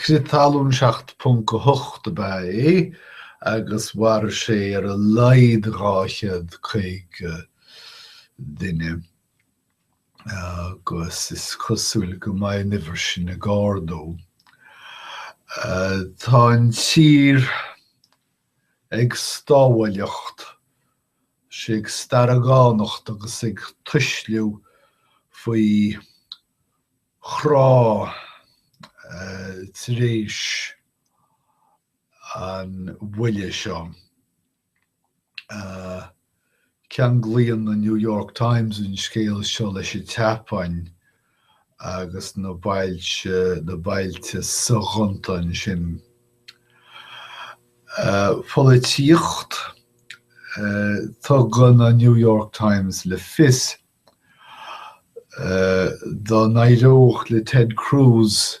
Crith talún 7.8 ab ea é agus mharaigh sé ar a laghad 250 duine agus is cosúil go mbeidh an uimhir sin ag ardú. Tá an tír ag stámhailleacht sé ag staragánacht agus ag tuisliú faoi chrá tar éis an bhuille seo. Ceanglaíonn an New York Times an scéal seo leis an tSeapáin agus na bailte, na bailte soghonta ansin. Polaitíocht. Tugann an New York Times le fios, dá n-éireodh le Ted Cruz,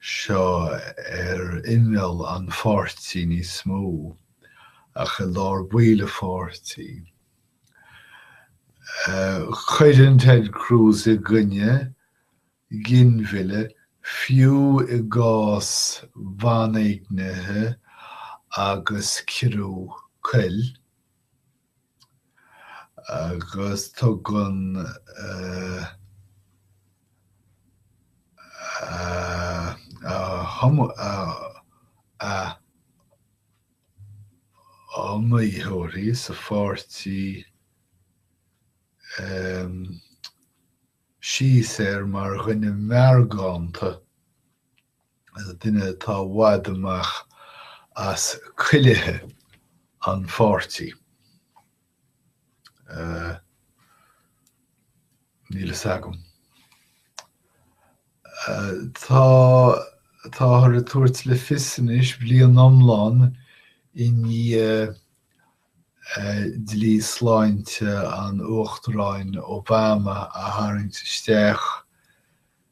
seo ar imeall an pháirtí níos mó ach i lár baill an pháirtí. Cuireann Ted Cruz i gcoinne ginmhilleadh fiú i gcás banéignithe agus ciorraithe coil. agus tugann a iomaitheoirí sa pháirtí síos air mar dhuine meargánta. duine atá i bhfad amach as cuilithe a pháirtí. Níl fhios agam. Táthar ag tabhairt le fios anois, bliain iomlán i ndiaidh dlí sláinte an Uachtaráin Obama a tharraingt isteach,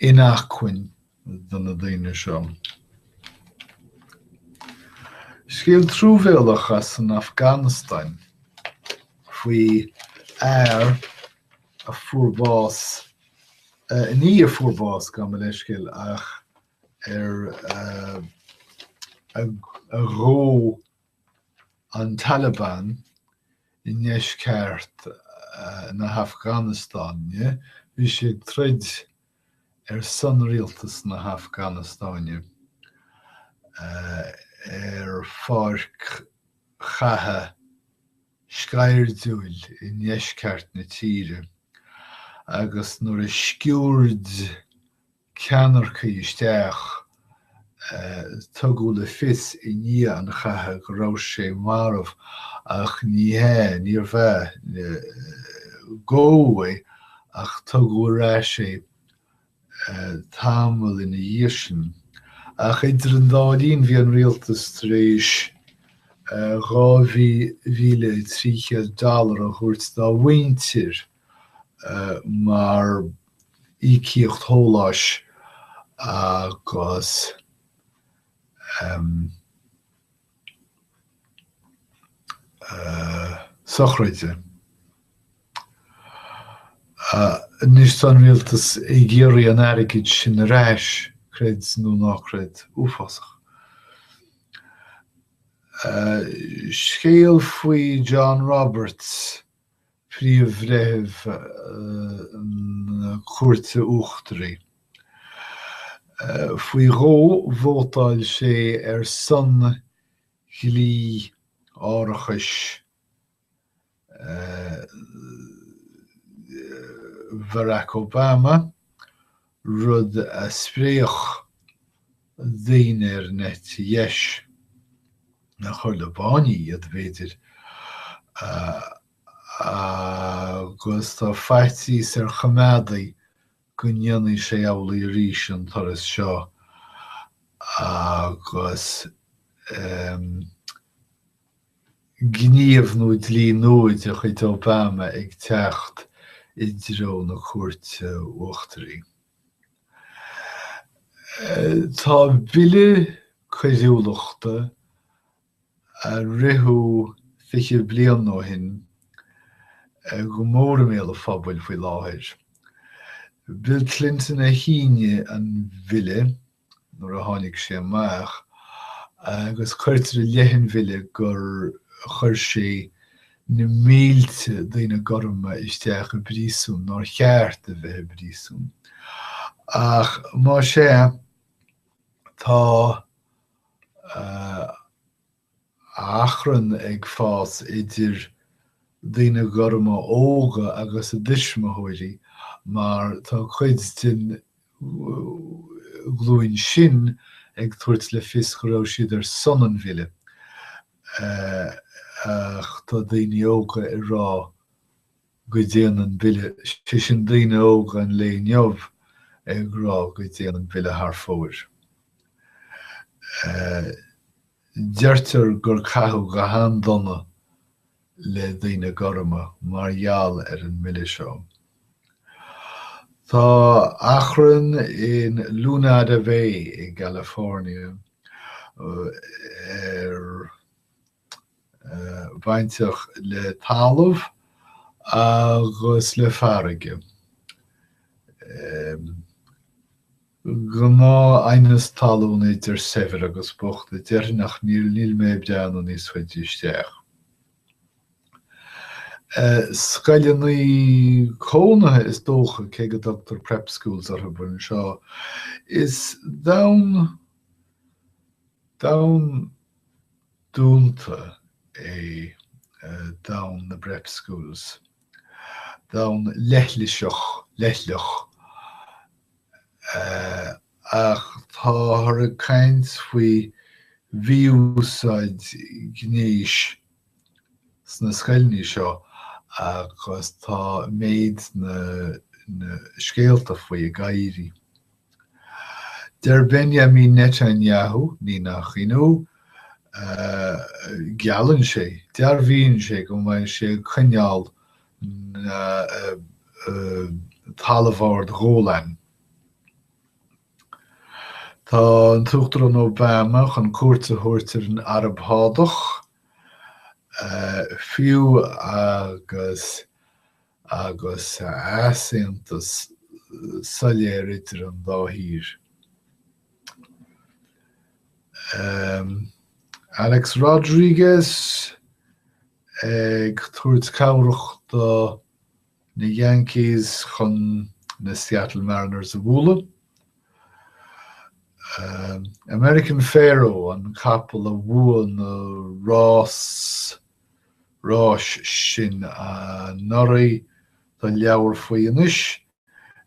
inacmhainne do na daoine seo. Scéal truamhéalach as an Afganastáin faoi fhear a fuair bás, ní a fuair bás, gabh mo leithscéal, ach ar ar dódh, an Taliban i ndeisceart na hAfganastáine, bhí sé ag troid ar son rialtas na hAfganastáine ar pháirc chatha sceirdiúil i ndeisceart na tíre agus nuair a sciúird ceannaircigh isteach, tugadh le fios i ndiaidh an chatha go raibh sé marbh ach ní hea, níorbh ea, go, ach tugadh ar ais é tamall ina dhiaidh sin. Ach idir an dá linn bhí an rialtas tar éis dhá mhíle trí chéad dollar a thabhairt dá mhuintir, mar íocaíocht shóláis agus sochraide. Anois tá an rialtas ag iarraidh an airgid sin ar ais, creid nó ná creid. Uafásach. Scéal faoi John Roberts. Príomh-Bhreitheamh na Cúirte Uachtaraí. Faoi dhó vótáil sé ar son dhlí árachais Barack Obama, rud a spreagfadh daoine ar an eite dheis a chur le báiní iad, b'fhéidir, agus tá faitíos ar choimeádaigh go ndéanfaidh sé amhlaidh arís an turas seo agus. gníomh nó dlí nua de chuid Obama ag teacht i dtreo na cúirte uachtaraí. Tá bille coiriúlachta a ritheadh fiche bliain ó shin go mór i mbéal an phobail faoi láthair. Bill Clinton a shínigh an bille. nuair a tháinig sé amach, agus cuirtear i leith an bhille gur chuir sé na mílte daoine gorma isteach i bpríosún nár cheart a bheith i bpríosún. Ach más ea, tá. achrann ag fás idir daoine gorma óga agus a dtuismitheoirí mar tá cuid den ghlúin sin ag tabhairt le fios go raibh siad ar son an bhille ach tá daoine óga ag rá go dtéann an bille, sé sin daoine óga an lae inniu ag rá go dtéann an bille thar fóir. Deirtear gur caitheadh go han-dona le daoine gorma mar gheall ar an mbille seo. Tá achrann in Lunada Bay i gCalifornia ar bainteach le talamh agus le farraige. Gnáth aighneas talún idir saibhir agus bocht a déarfainn ach níl mé ábalta dul níos faide isteach. Scoileanna cónaithe is dócha, cé go dtugtar Prep Schools orthub anseo. Is domhan dúnta é domhan na bPrep-Schools, domhan leithliseach, leithleach, ach táthar ag caint faoi mhí-úsáid ghnéis sna scoileanna seo agus tá méid na scéalta faoi ag géarú. Deir Benjamin Netanyahu, ní nach ionadh, geallann sé, dearbhaíonn sé go mbeidh sé ag coinneáil na dTalamh Ard Ghólain. Tá an tUachtarán Obama chun cuairt a thabhairt ar an Araib Shádach, fiú, agus. agus easaontas soiléir idir an dá thír. Alex Rodriguez ag tabhairt cabhrach do na Yankees chun na Seattle Mariners a bhualadh. American Pharoah an capall a bhuaigh na rás ráis sin anuraidh tá leabhar faoi anois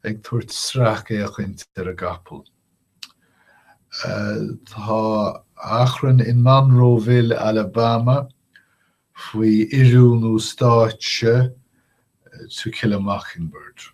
ag tabhairt sracfhéachaint ar an gcapall. Tá achrann in Monroeville, Alabama faoi oiriúnú stáitse To Kill a Mockingbird.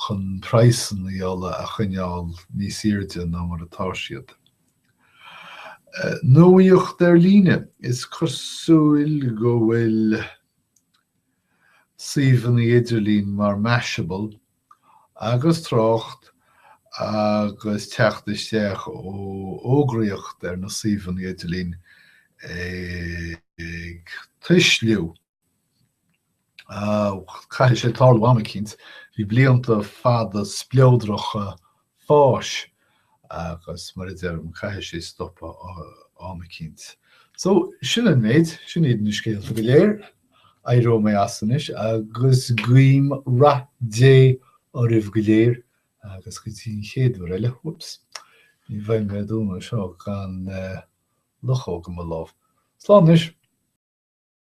chun praghsanna ola a choinneáil níos airde ná mar atá siad. Nuacht ar líne, is cosúil go bhfuil suíomhanna idirlín mar Mashable agus trácht agus teacht isteach ó fhógraíocht ar na suíomhanna idirlín ag tuisliú. Caithfidh sé tarlú am eicínt. Bhí blianta fada spleodracha fáis agus, mar a deirim, caithfidh sé stopadh am eicínt. So, sin an méid, sin iad na scéalta go léir. Éireoidh mé as anois agus guím rath Dé oraibh go léir agus go dtí an chéad uair eile, whoops, ní bheidh mé ag dúnadh seo gan luchóg i mo lámh. Slán anois.